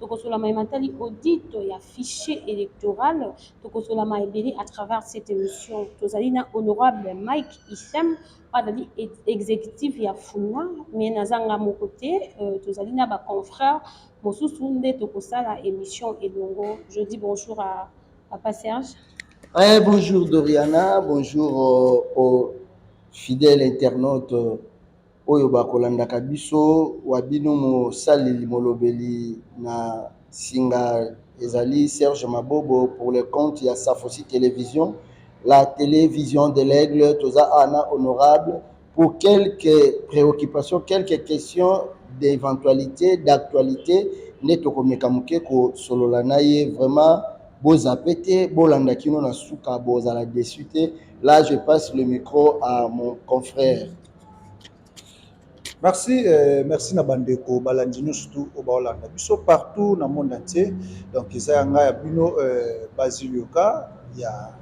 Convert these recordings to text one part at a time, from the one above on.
tokosola maye matali audit ya fichier électoral tokosola maye ebele à travers cette émission tozali na honorable mike isem azali exécutif ya funa mais naza nga moko te euh, tozali na baconfrère mosusu nde tokosala émission elongo je dis bonjour à papa serge eh, bonjour doriana bonjour aux, euh, aux fidèles internautes oyo ba kolandaka biso wa bino mosaleli molobeli na singa ezali Serge Mabobo pour le compte ya Safosi Television la tele vision de l'aigle toza awa na honorable pour quelques preoccupations quelques questions d'eventualite d'actualite nde tokomeka moke kosolola na ye vraiment bozape te bolanda kino na suka bozala deçu te là je passe le micro à mon confrère Merci, euh, merci na bandeko balandi nyonso tu oyo baolanda biso partout na monde entier donc eza ya ngai ya bino euh, Basile Yoka ya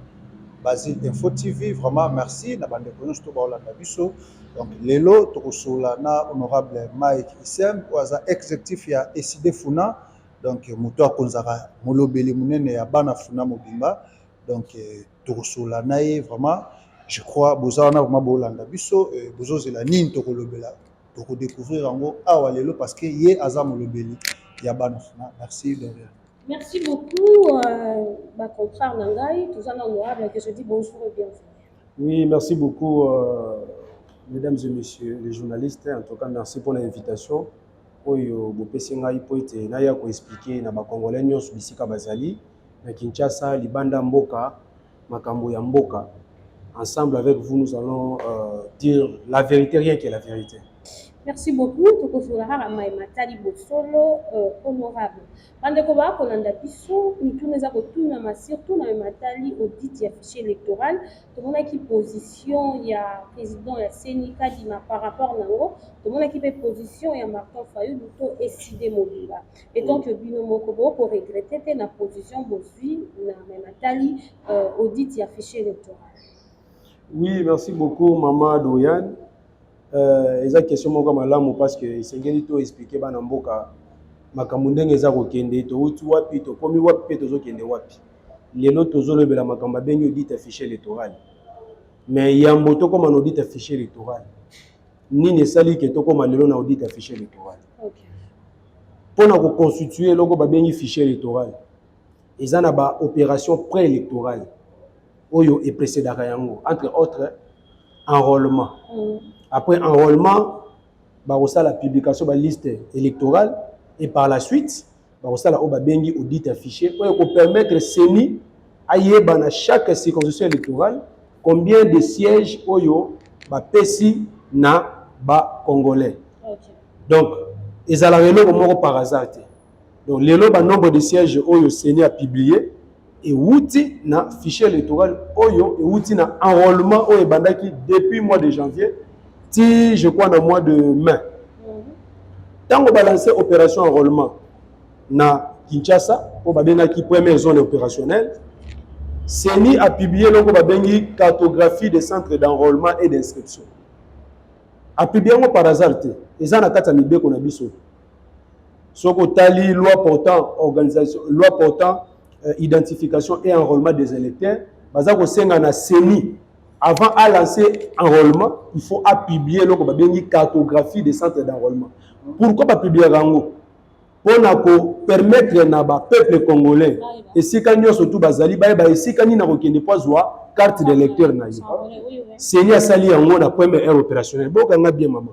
Basile Info TV vraiment merci na bandeko nyonso tu baolanda biso donc lelo tokosola na honorable Mike Isem oyo aza executif ya Eside Funa donc moto akonzaka molobeli monene ya bana Funa mobimba donc euh, tokosolola na ye vraiment je crois boza wana vraiment bolanda biso euh, bozozela nini tokolobela tokodécouvrir yango awa lelo parce que ye aza molobeli ya bana fina merci de rien merci beaucoup euh, bacontrare na ngai toza na honorable que je dis bonjour et bienvenue oui merci beaucoup euh, mesdames et messieurs les journalistes en tout cas merci pour l'invitation oyo bopesi ngai mpo ete naya koexplike na bacongolais nyonso bisika bazali na Kinshasa, libanda mboka, makambo ya mboka. Ensemble avec vous, nous allons euh, dire la vérité, rien que la vérité. Merci beaucoup. Tokozala kaka mai matali bosolo euh, honorable. Bandeko ba kolanda biso mituna eza kotunama surtout na matali audit ya fichier électoral. Tomonaki position ya président ya CENI Kadima par rapport na yango. Tomonaki mpe position ya Martin Fayulu to Eside Mobimba. etant que bino moko bo ko regretter te na position bozwi na me natali euh, audit ya fichier électoral oui merci beaucoup mama Dorian euh, eza question moko malamu parce que esengeli to expliquer bana mboka makambo ndenge eza kokende touti wapi tokomi wapi mpe tozokende wapi lelo tozolobela makambo abengi audit ya fichier électoral mais yambo tokóma na audit ya fichier électoral nini esali ke tokoma lelo na audit ya fichier electoral okay. mpo na koconstitue eloko babengi fichier electoral eza na baopération préélectorale oyo eprecédaka yango entre autres enrôlement mm. après enrôlement bakosala publication baliste électorale et par la suite bakosala oyo babengi audit ya fichier oyo ekopermettre ceni ayeba na chaque circonscription électorale combien de sièges oyo bapesi na bacongolais okay. donc ezalaka eloko moko par hasard te donc lelo banombre de sièges oyo ceni apublie ewuti na fichier electoral oyo ewuti na enrôlement oyo ebandaki depuis mois de janvier ti je crois na mois de mai ntango balanse opération enrôlement na kinshasa oyo babengaki première zone opérationnelle ceni apublie eloko babengi cartographie des centres d'enrôlement et d'inscription apublie yango par hasard te eza na kati ya mibeko na biso soki otali loi portant organisation loi portant euh, identification et enrôlement des électeurs baza kosenga na ceni avant a lancer enrôlement il faut a publier eloko babengi cartographie des centres d'enrôlement pourquoi bapubliaka yango mpo na kopermettre na bapeuple congolais esika nyonso tu bazali bayeba esika nini akokende mpo azwa carte de lecteur na ye seni asali yango na première heure opérationnel bokanga bien mama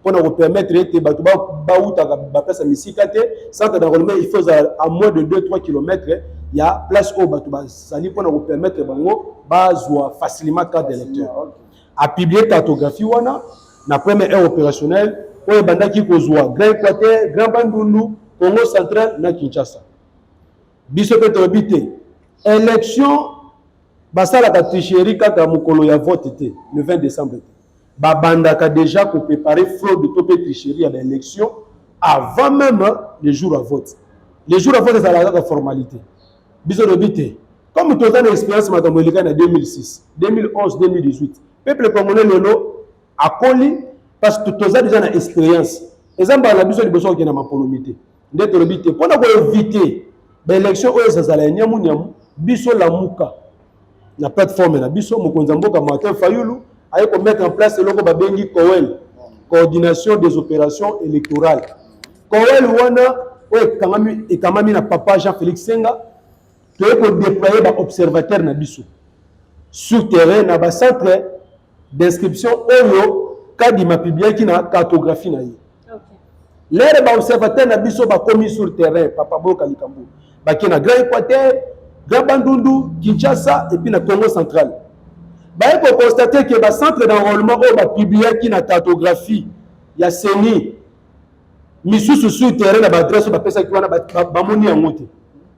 mpo na kopermettre ete bato bautaka baplace ya misika te centre d'enrôlement il faut ezala à moins de 2 3 kilomètre ya place oyo bato bazali mpo na kopermettre bango bazwa facilement carte d'électeur apiblie cartographie wana na première heure opérationnelle oyo ebandaki kozwa grand équateur grand bandundu congo central na kinshasa biso mpe toyebi te élection basalaka tricherie kaka mokolo ya vote te le 20 décembre te Babandaka dejà ko preparer fraude to pe tricherie ya ba elections avant meme le jour à vote. Le jour à vote ezalaka kaka formalite. Biso lobi te. Comme toza na experience makambo eleka na 2006, 2011, 2018. Peuple congolais lelo akoli parce que toza dejà na experience. Eza mbala na biso liboso kokenda mapolomi te. nde tolobi te mpo na koevite baelection oyo ezazala ya niamu niamu biso lamuka na plateforme na biso mokonzi ya mboka martin fayulu aye komettre en place eloko babengi coel coordination des opérations électorales coel wana oyo ekamami na papa jean félix senga toye kodéploye baobservateur na biso sur terrain na bacentre Description oyo Kadima publiaki na cartographie na ye. Okay. Lere ba observateur na biso bakomi sur terrain papa boyoka likambo. Bake na Grand Equateur, Grand Bandundu, Kinshasa et puis na Congo central. Baye ko constater que ba centre d'enrôlement oyo ba publiaki na cartographie ya CENI misusu sur terrain na ba adresse bapesaki wana bamoni yango te.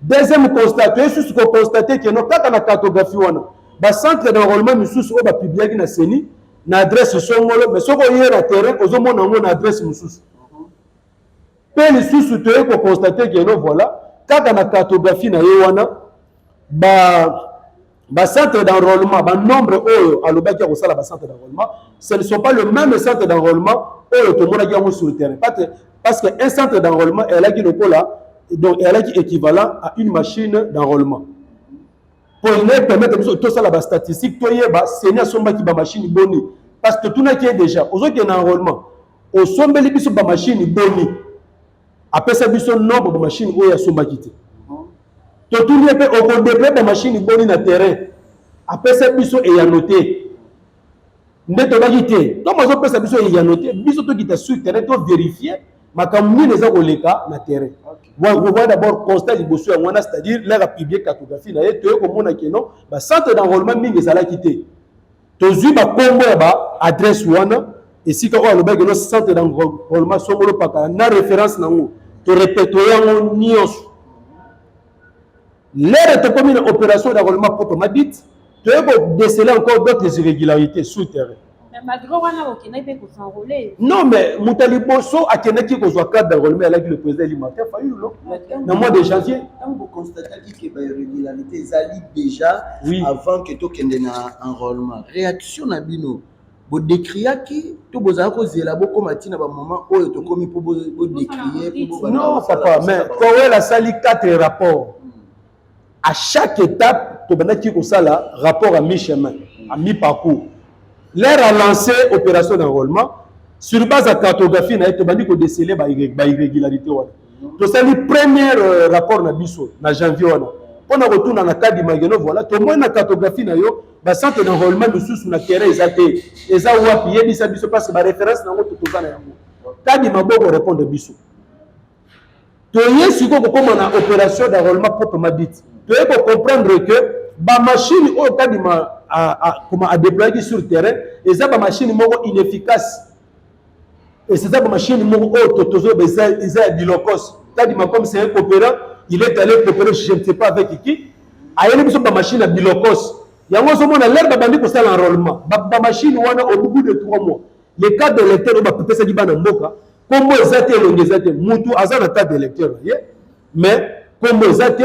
Deuxième constat, toye susu ko constater que no kaka na cartographie wana ba centre d'enrôlement misusu oyo ba publiaki na CENI na adresse songolo mais soki oye na terrain ozomona yango na adresse mosusu mpe lisusu toye kokonstate keno voilà kaka na cartographie na ye wana ba bacentre d'enrôlement banombre oyo alobaki ya kosala bacentre d'enrôlement ce ne sont pas le même centre d'enrôlement oyo tomonaki yango sur le terrain parce que un centre d'enrôlement eyalaki lokola donc eyalaki équivalent à une machine d'enrôlement mpo ine permettre biso tosala bastatistique toyeba seni asombaki bamashine boni parce que totunaki ye déjà ozokende na enrôlement osombeli biso bamashine boni apesa biso nombre ba machine oyo asombaki te totuni ye mpe okodeploye ba machine boni na terrain apesa biso eyano te nde tobaki te ntango azopesa biso eyano te biso tokita sur terrain toverifie makambo nini eza koleka na terrain okokoya d'abord constat liboso yango wana c'est-à-dire laka publie cartographie na ye toye komona keno bacentre d'enrôlement mingi ezalaki te tozwi bakombo ya ba adresse wana esika oyo alobaki no centre d'enrôlement songolo pakala na référence na yango torepertoye yango nyonso lere tokomi na opération d'enrôlement poto madite toye kodesele encore d'autres irrégularités sous terrain non mais moto ya liboso akendaki kozwa carte d'enrôlement alaki le président elimata fayulu na mois de janvier que ba irrégularité ezali déjà oui. avant que tokende na enrôlement réaction na bino bodécriaki to bozala kozela bokoma ntina bamoment oyo tokomi mpo bodécrie non papa mais powel asali 4 rapport à chaque étape tobandaki kosala rapport à mi chemin à mi parcours l'air a lancé opération d'enrôlement sur base ya cartographie na ye tobandi kodesele bairrégularité wana tosali première euh, rapport na biso na janvier wana mpo na kotuna na kadi mageno voilà tomoni na cartographie na yo bacentre na enrôlement mosusu na terrain eza te eza wapi yebisa biso parce que baréférence na yango totoza na yango kadi maboko répondre biso toye sikoyo kokóma na opération d'enrôlement proprement dite toye kocomprendre que bamashine oyo kadi ma adéployaki sur terrain eza bamashine moko inefficace Et c'est ça que ma chaîne moko oyo to tozo ba eza eza ya bilokos. Tadi makom c'est un coopérant, il est allé coopérer je ne sais pas avec qui. Ayeli biso ba machine ya bilokos. Yango zo mona l'herbe bandi ko sala enrôlement. Ba, ba machine wana au bout de 3 mois. Les cas de lecteur ba pesa ki bana mboka. Kombo eza te elongi eza te. Mutu aza na cas de lecteur. Mais kombo eza te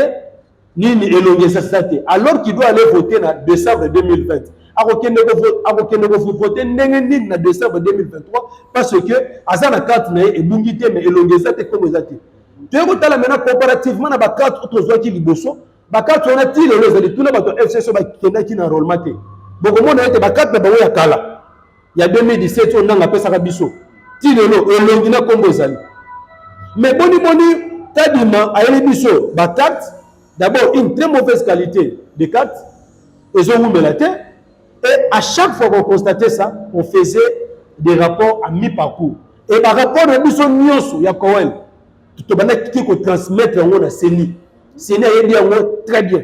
nini elongi esasisa te alors qu'il doit aller voter na décembre 2020 akokende akokende kovote ndenge nini na décembre 2023 parce que aza na carte na ye ebungi te mais elongi eza te nkombo eza te toye kotala maintenant comparativement na bacarte oyo tozwaki liboso bacarte wana ti lelo ezali tuna bato ya fcc bakendaki na enrollement te bokomona ete bacarte na bango ya kala ya 2017 oyo nanga apesaka biso ti lelo elongi na nkombo ezali mais boni boni tadima ayeli biso bacarte d'abord une très mauvaise qualité de carte ezowumela te et à chaque fois qu'on constatait ça on faisait des rapports à mi-parcours et barapport na biso nyonso ya coel tobandaki kotransmettre yango na ceni ceni ayebi yango très bien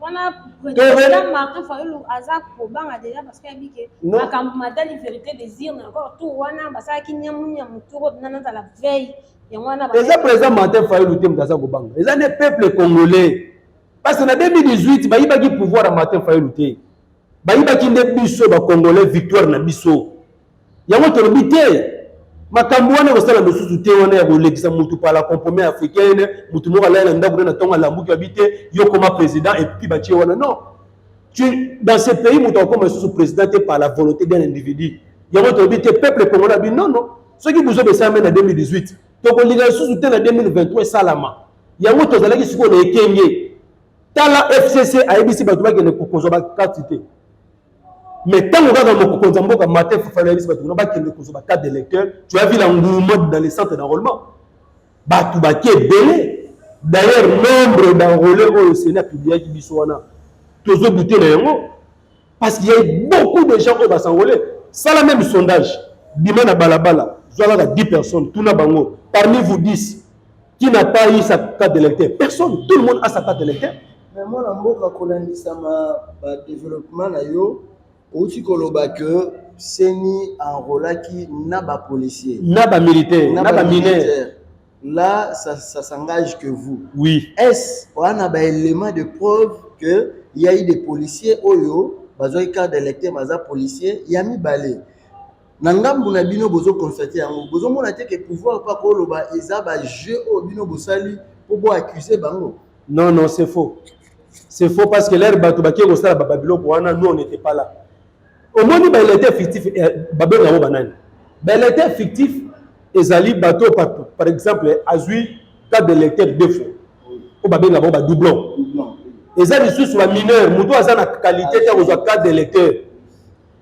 wana president martin fayulu aza kobanga deja parce que ayebi ke makambo matali vérité désir na encore tour wana basalaki nyamunyamu tour oyo bina nazala veille yango wana eza président martin fayulu te moto aza kobanga eza ne peuple congolais parce que na 2018 bayibaki pouvoir ya martin fayulu te bayibaki nde biso bacongolais victoire na biso Yango tolobi te makambo wana ekosala mosusu te, wana ya kolekisa motu pala comprome africaine, motu moko alali na ndako na tonga lambuki abi te yo koma president epuki batie wana non. Tu, dans ce pays moto akokoma lisusu president te par la volonté d'un individu. Yango tolobi te peuple congolais abi non non, soki buzoba esalami na 2018 tokolinga lisusu te na 2023 esalama. Yango tozalaki sikoyo na ekenge. Tala FCC ayebisi bato bakende kozwa ba carte te. Mais ntango kaka mokonzi ya mboka Martin Fofana ayebisi bato kuna bakende kozwa ba carte d'électeur, tu as vu l'engouement dans les centres d'enrôlement. Bato baki ebele. D'ailleurs, nombre d'enrôlés oyo Sénat publiaki biso wana, tozo douter na yango parce qu'il y a eu beaucoup de gens oyo ba s'enrôler. Sala même sondage, bima na balabala, zwa kaka 10 personnes, tuna bango, parmi vous 10, Qui n'a pas eu sa carte d'électeur Personne. Tout le monde a sa carte d'électeur. Mais moi, la mboka kolandisama ba développement na yo outi koloba que seni enrolaki na ba policiers, na ba militaires, na ba mineurs. Là, ça, ça s'engage que vous. Oui. Est-ce on a un élément de preuve que il y a eu des policiers oyo bazoi carte d'électeur baza policier ya mibale na ngambu na bino bozo constate yango bozomona te ke pouvoir mpa koloba eza ba jeu oyo bino bosali mpo bo accuse bango non non c'est faux c'est faux parce que lere bato bakie kosala bababiloko wana nous on n'était pas là omoni baelete fictif eh, babenga yango banani baelete fictif ezali bato par exemple azwi carte de lecteur deux fois oyo babenga bango badoublon eza lisusu bamineur moto aza na qualité te akozwa carte de lecteur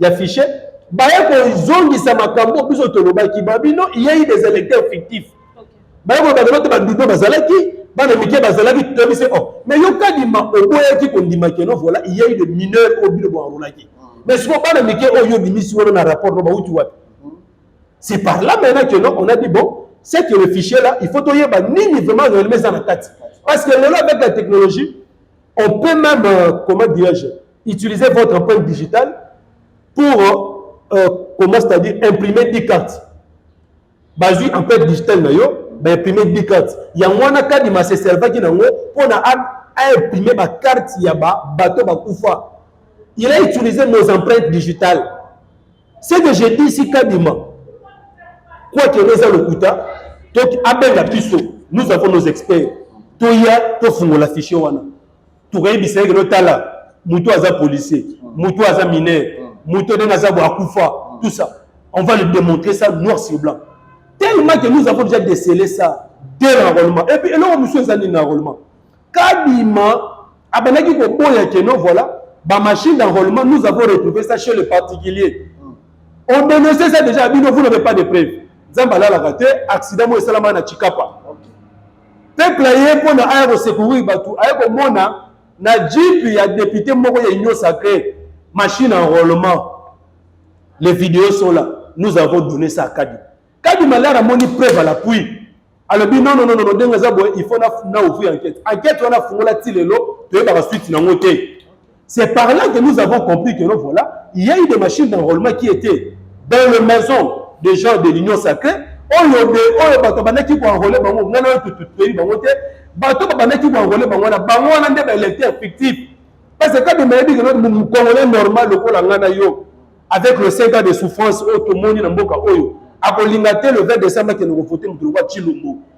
ya fichier baye kozongisa makambo biso tolobaki babino iyei des électeurs fictifs baye koloba lelo te badudo bazalaki bana mike bazalaki toyebi se o oh, mais yo kadima oboyaki kondima keno voilà iyei de mineur oyo bino boarolaki hmm. mais siko bana mike oyo oh, obimisi wana na rapport no bauti wapi hmm. c'est par là maintenant que non on a dit bon c'est que le fichier là il faut toyeba nini vraiment réellement eza na kati parce que lelo avec la technologie on peut même euh, comment dirais-je Utilisez votre empreinte digitale pour euh, euh comment c'est-à-dire imprimer 10 cartes. Bazui empreinte digitale na yo, ba imprimer 10 cartes. Yango wana Kadima se servaki nango mpo na a imprimer ba cartes ya ba bateau bakufa. Il a utilisé nos empreintes digitales. Ce que j'ai dit ici Kadima, quoi que les lokuta, donc abenga biso, nous avons nos experts. Toya tofungola fichier wana. tokoyebisa ye keno tala moto oyo aza policier moto oyo aza mineur moto oyo ndenge aza bo akufa tout ça on va le démontrer ça noir sur blanc tellement que nous avons déjà décelé ça dès l'enrôlement et puis eloko mosusu eza nini na enrôlement kadima abandaki koboya keno voilà bamachine d'enrôlement nous avons retrouvé ça chez le particulier on dénonçait ça déjà bino vous n'avez pas de preuve nzambe alalaka te accident moko esalamaka na chikapa Peuple aye mpo na aya kosecourir bato, aye komona na jeep ya depute moko ya union sacree machine enrôlement. Les videos sont là, nous avons donné ça à Kadi. Kadi Malard amoni preuve à l'appui. alobi non non non non ndenge eza boye il faut na na ouvrir enquête enquête wana fungola ti lelo toyebaka suite nango te C'est par là que nous avons compris que non, voilà, il y a eu des machines d'enrôlement qui étaient dans les maisons des gens de l'Union sacrée. oyo de oyo bato bandaki koenrole bango ngai nayo tututoyebi bango te bato babandaki koenrole bango wana bango wana nde baélecteur fictif parce que kabemba yebi keno mokongole normal lokola ngai na yo avec le 5 ans de souffrance oyo tomoni na mboka oyo akolinga te le 20 décembre akende kovote moto lokola tshilombo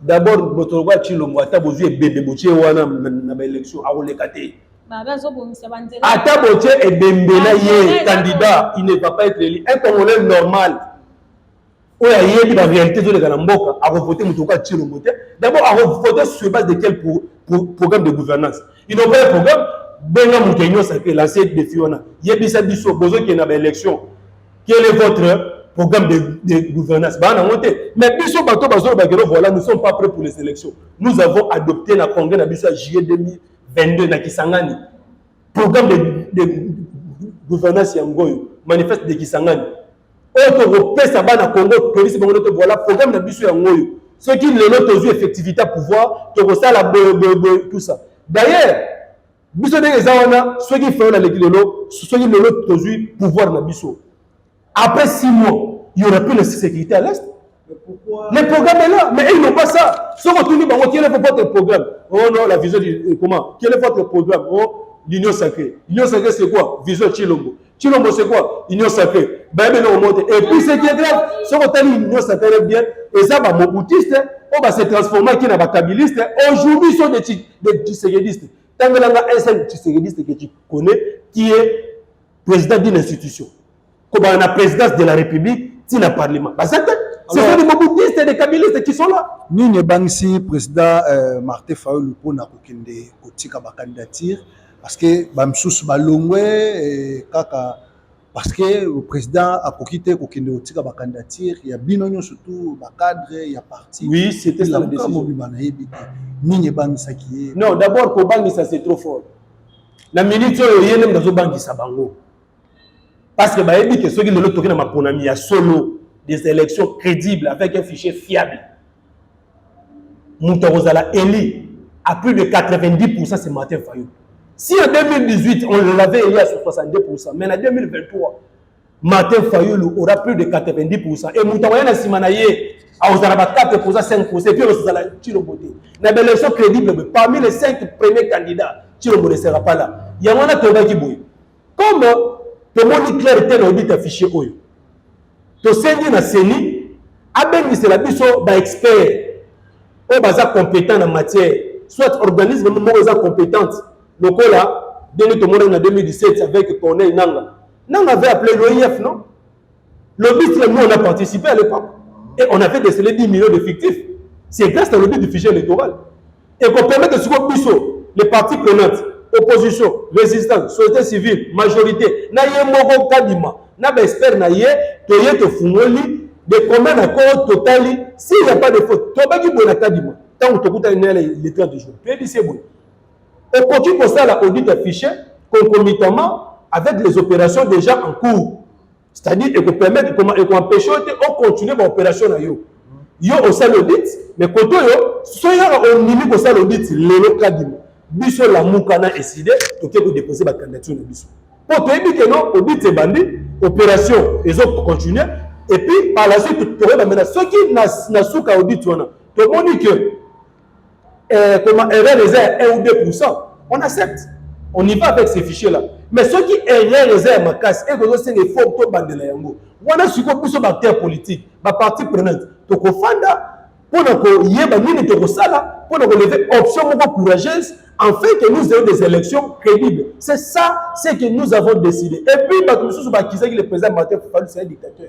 D'abord moto lokola Tshilombo ata bozwi ebembe botie wana na ba élection akoleka te. Ata botie ebembe na ye candidat il ne va pas être élu. Un Congolais normal oyo ayebi ba réalité ezoleka na mboka akovote moto lokola Tshilombo te. D'abord akovote sur base de quel pro, pro, programme de gouvernance Ils n'ont pas un programme. Benga moto ya Union sacrée lancer défi wana yebisa biso bozokende na ba élection Quel est votre programme de, de gouvernance baa nango te mais biso bato bazoloba keno voilà nous sommes pas prêts pour les élections nous avons adopté na congrès na biso ya juillet 2022 na kisangani programme de, de gouvernance yango oyo manifeste de kisangani oyo tokopesa bana congo toyebisi bango te voilà programme na biso yango oyo soki lelo tozwi effectivité ya pouvoir tokosala boye boye boye tout ça d'ailleurs biso ndenge eza wana soki fayol aleki lelo soki lelo tozwi pouvoir na biso après six mois il y aura plus la sécurité à l'est le programme est là mais ils n'ont pas ça soki otuni bango quel est votre programme oh non la vision du, euh, comment quel est votre programme oh l'union sacrée l'union sacrée c'est quoi vision chilombo Chilombo c'est quoi Union sacrée. Bayebi eloko moko te. Et puis ce qui est grave, soki otali Union sacrée bien, eza ba mobutiste oyo ba se transformaki na ba kabiliste, aujourd'hui sont des des tshisekedistes. Tangela nga un seul tshisekediste que tu connais qui est président d'une institution. Kobana na présidence de la République, ti na parlement. Baza te. Ce sont des mobutiste et des kabilistes qui sont là. Nini ebangisi président euh, Martin Fayulu mpo na kokende kotika ba candidature parce que bamisusu balongwe eh, kaka parce que président akoki te kokende kotika bacandidature ya bino nyonso tu bacadre ya parti oui, c'était la décision mobimba nayebi te nini ebangisaki ye non d'abord kobangisa c'est trop fort na minute oyo ye nde moto azobangisa bango Parce que bayebi que soki lelo toki na maponami ya solo des élections crédibles avec un fichier fiable moto akozala élu à plus de 90% c'est Martin Fayulu. Si en 2018 on l'avait élu à 62%, mais en 2023 Martin Fayulu aura plus de 90% et moto akoya na nsima na ye akozala ba 4% 5% et puis akozala Tshilombo te. Na ba élections crédibles parmi les 5 premiers candidats Tshilombo ne sera pas là. Yango wana tobaki boye. Comme tomoni claire te na audit ya fichier oyo, tosengi na ceni abengisela biso ba experts oyo baza competent na matière, soit organisme moko eza competente lokola ndenge tomonaki na 2017 avec Corneille Nangaa. Nangaa avait appele l'OIF, non? Lobiste, nous on a participé à l'époque et on avait décelé 10 millions d'effectifs. C'est grâce à lobby du fichier électoral. Et qu'on permet de suivre Bissot, les partis prenantes, opposition, résistance, société civile, majorité, na ye moko kadima, na ba expert na ye, to ye to fungoli, de combien na ko totali, s'il n'y a pas de faute, to baki bona kadima, tant que to kuta nele le 30 jours. Tu es dit c'est bon. Okoki kosala audit ya fichier concomitamment avec les operations dejà en cours. C'est-à-dire ekopermettre ekoempeshe yo te ocontinue ba operation na yo. Yo osali audit mais kote oyo soki kaka ondimi kosala audit lelo kadima biso lamuka na eside toke kodeposer ba candidature na biso mpo toyebi ke no audit ebandi operation ezo continue et puis par la suite tokoyeba mena soki na suka audit wana tomoni ke eh, comment erreur eza ya 1 ou 2% on accepte on y va avec ces fichiers là mais soki erreur eza ya makasi ekozosenga effort tobandela yango wana sikoyo biso baacteur politique bapartie prenante tokofanda mpo na koyeba nini tokosala mpo na koleve option moko courageuse enfin que nous ayons des élections crédibles c'est ça ce que nous avons décidé et puis bato mosusu bakisaki le président martin fofalus ya dictateur